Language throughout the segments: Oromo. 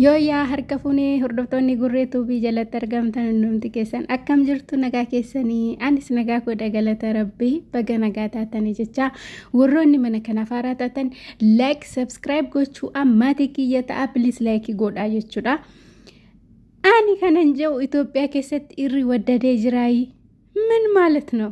Yooyyaa harka fuunee hordoftoonni gurree tuubii jalatti argamtan hundumti keessan akkam jirtu nagaa keessanii anis nagaa godha galata rabbii baga nagaa taatanii jecha warroonni mana kanaaf haaraa taatan like subscribe gochuu ammaatii kiyya ta'a please like godhaa jechuudha. Ani kanan jedhu Itoophiyaa keessatti irri waddadee jiraayi min maalat noo?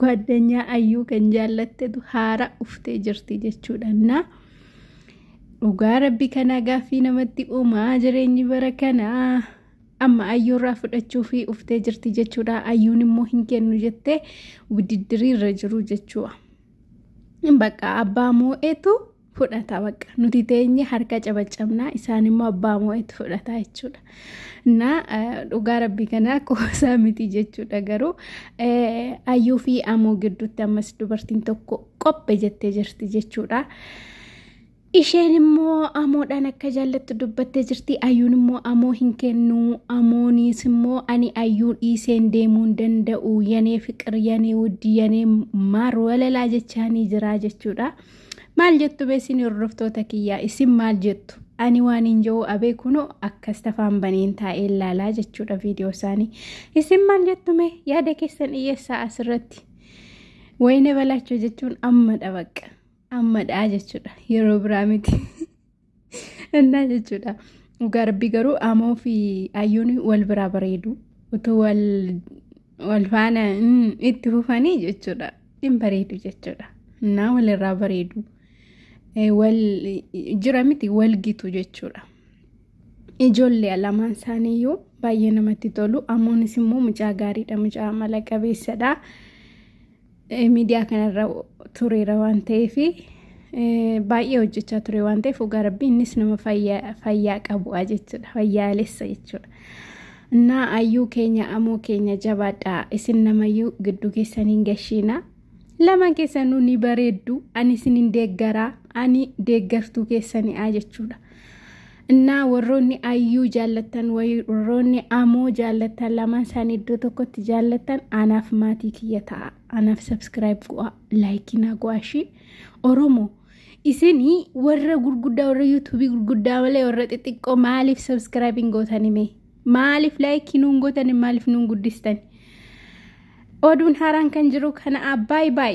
Gwaaddanyaa ayyuu kan jaallattetu haara uftee jirti jechuudhannaa. Dhugaa rabbi kanaa gaaffii namatti uumaa jireenyi bara kanaa. Amma ayyuurraa fudhachuu fi uftee jirti jechuudha. Ayyuun immoo hin kennu jettee wudiddirii irra jiru jechuudha. Bakka abbaa moo'etu fudhata bakka nuti teenye harka cabacabnaa isaan immoo abbaa moo'etti fudhataa jechuudha. Na dhugaa rabbii kanaa qoosaa miti jechuudha garuu ayyuu fi amoo gidduutti ammas dubartiin tokko qophe jettee jirti jechuudha. Isheen immoo amoodhaan akka jaallattu dubbattee jirti. Ayyuun immoo amoo hin kennu. Amoonis immoo ani ayyuu dhiiseen deemuu hin danda'u. Yanee fiqir, yanee wuddi, yanee maar walalaa jechaanii jira jechuudha. Maal jettu beesin hordoftoota kiyyaa isin maal jettu? Ani waan hin jiru abee kunoo akkas tafaan baneen taa'ee laalaa jechuudha viidiyoo isaanii. Isin maal jettu mee yaada keessan dhiyeessaa asirratti? Wayine balaachoo jechuun ammadha baqqa. Ammadha jechuudha yeroo biraa miti. Innaa jechuudha. Dhugaa rabbii garuu amoo fi ayyuun wal biraa bareedu. Utuu wal wal faana mm, itti fufanii jechuudha. Hin bareedu jechuudha. Innaa walirraa bareedu. Eh, Wal jira miti wal gitu jechuudha. Ijoollee lamaan isaaniiyyuu baay'ee namatti tolu. Amoonis immoo mucaa gaariidha. Mucaa amala qabeessadha. miidiyaa kanarra tureera waan ta'eef baay'ee hojjechaa ture waan ta'eef dhugaa rabbii innis nama fayyaa qabu'a jechuudha fayyaalessa jechuudha. Innaa ayyuu keenya amoo keenya jabaadhaa isin namayyuu gidduu keessaniin gashiina. Lamaan keessanuu ni bareeddu ani isinin deeggaraa ani deeggartuu keessani'a jechuudha. Innaa warroonni ayyuu jaallattan warroonni amoo jaallattan lamaan isaanii iddoo tokkotti jaallattan anaaf maatii kiyya ta'a. Anaaf subscribe go'a laayikii naa go'a ishii. Oromoo isinii warra gurguddaa warra yuutuubii gurguddaa malee warra xixiqqoo maaliif subscribe hin gootani mee? Maaliif laayikii nuun gootani maaliif nuun guddistani? Oduun haaraan kan jiru kana abbaay baay.